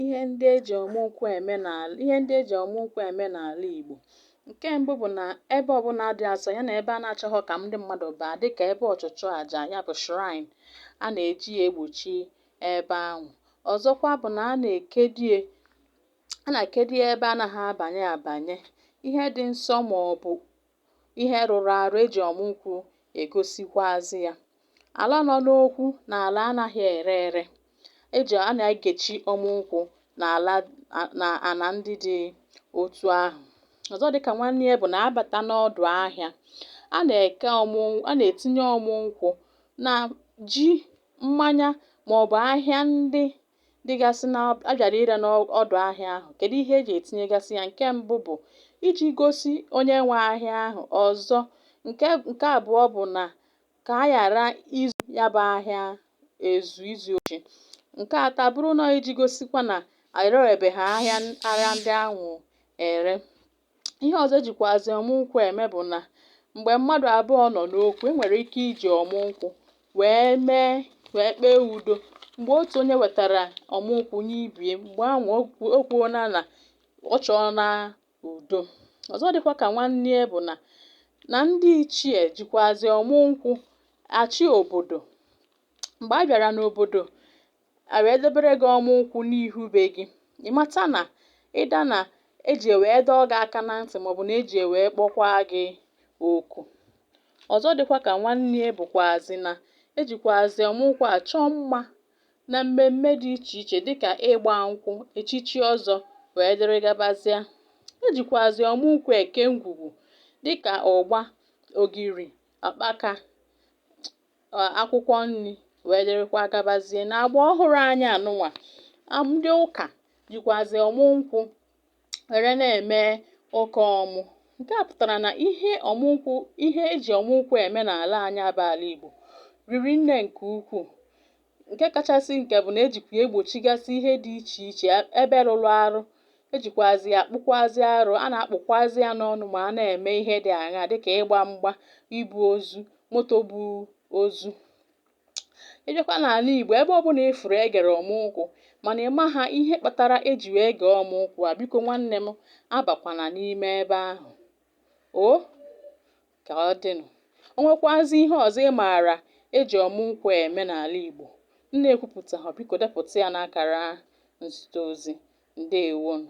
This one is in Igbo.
ihe ndị e ji ọmụ nkwụ eme n'ala Igbo nke mbụ bụ na ebe ọbụla dị asọ ya na ebe a na-achọghọ ka ndị mmadụ baa dịka ebe ọchụchụ aja ya bụ shrine a na-eji ya egbochi ebe ahụ ọzọkwa bụ na a na-ekedie a na-ekedie ebe anaghị abanye abanye ihe dị nsọ ma ọ bụ Ihe rụrụ arụ e ji ọmụ nkwụ egosikwuazị ya. Ala nọ n'okwu na ala anaghị ere ere. A na-egechi ọmụ nkwụ na ana ndị dị otu ahụ. Ọzọ dị ka nwanne ya bụ na a bata n'ọdụ ahịa, a na-etinye ọmụ nkwụ na ji, mmanya maọbụ ahịa ndị dịgasị na a bịara ire n'ọdụ ahịa ahụ kedu ihe eji etinyegasị ya nke mbụ bụ iji gosi onye nwe ahịa ahụ ọzọ nke abụọ bụ na ka a ghara izu ya bụ ahịa ezu izu ochi nke atọ bụrụ na iji gosikwa na erebeghị ahịa ahịa ndị ahụ ere ihe ọzọ ejikwazi ọmụ nkwụ eme bụ na mgbe mmadụ abụọ nọ n'okwu enwere ike iji ọmụ nkwụ wee kpee udo mgbe otu onye wetara ọmụ nkwụ nye ibe ya mgbe ahụ o kwuona na ọ chọọna udo ọzọ dịkwa ka nwanne ya bụ na na ndị ichie jikwazi ọmụ nkwụ achị obodo mgbe a bịara n'obodo a wee debere gị ọmụ nkwụ n'ihu be gị ị mata na ịda na eji wee dọọ gị aka na ntị maọbụ na eji wee kpọkwaa gị oku ọzọ dịkwa ka nwanne ya bụkwazi na ejikwazi ọmụ nkwụ achọ mma na mmemme dị iche iche dịka ịgba nkwụ echichi ọzọ wee dịrị gabazịa ejikwazi ọmụ nkwụ eke ngwugwu dịka ụgba ogiri akpaka akwụkwọ nri wee dịrịkwa gabazie na agba ọhụrụ anyị anụnwa ndị ụka jikwazi ọmụ nkwụ were na-eme ụka ọmụ nke a pụtara na ihe ọmụ nkwụ ihe eji ọmụ nkwụ eme n'ala anyị a bụ ala Igbo riri nne nke ukwuu Nke kachasị nke bụ na e jikwa ya egbochigasị ihe dị iche iche e- ebe rụrụ arụ. E jikwazi ya akpụkwazi arụ. A na-akpụkwazi ya n'ọnụ ma a na-eme ihe dị aṅaa dị ka ịgba mgba, ibu ozu, moto bu ozu. Ị bịakwa n'ala Igbo, ebe ọbụla ị fụrụ e gere ọmụ nkwụ mana ị maha ihe kpatara e ji wee gee ọmụ nkwụ a, biko nwanne m, abakwana n'ime ebe ahụ o! ka ọ dịnụ. O nwekwazị ihe ọzọ ị maara e ji ọmụ nkwụ eme n'ala Igbo m na-ekwupụtaghọ, biko depụta ya n'akara nzite ozi. Ndeewonụ.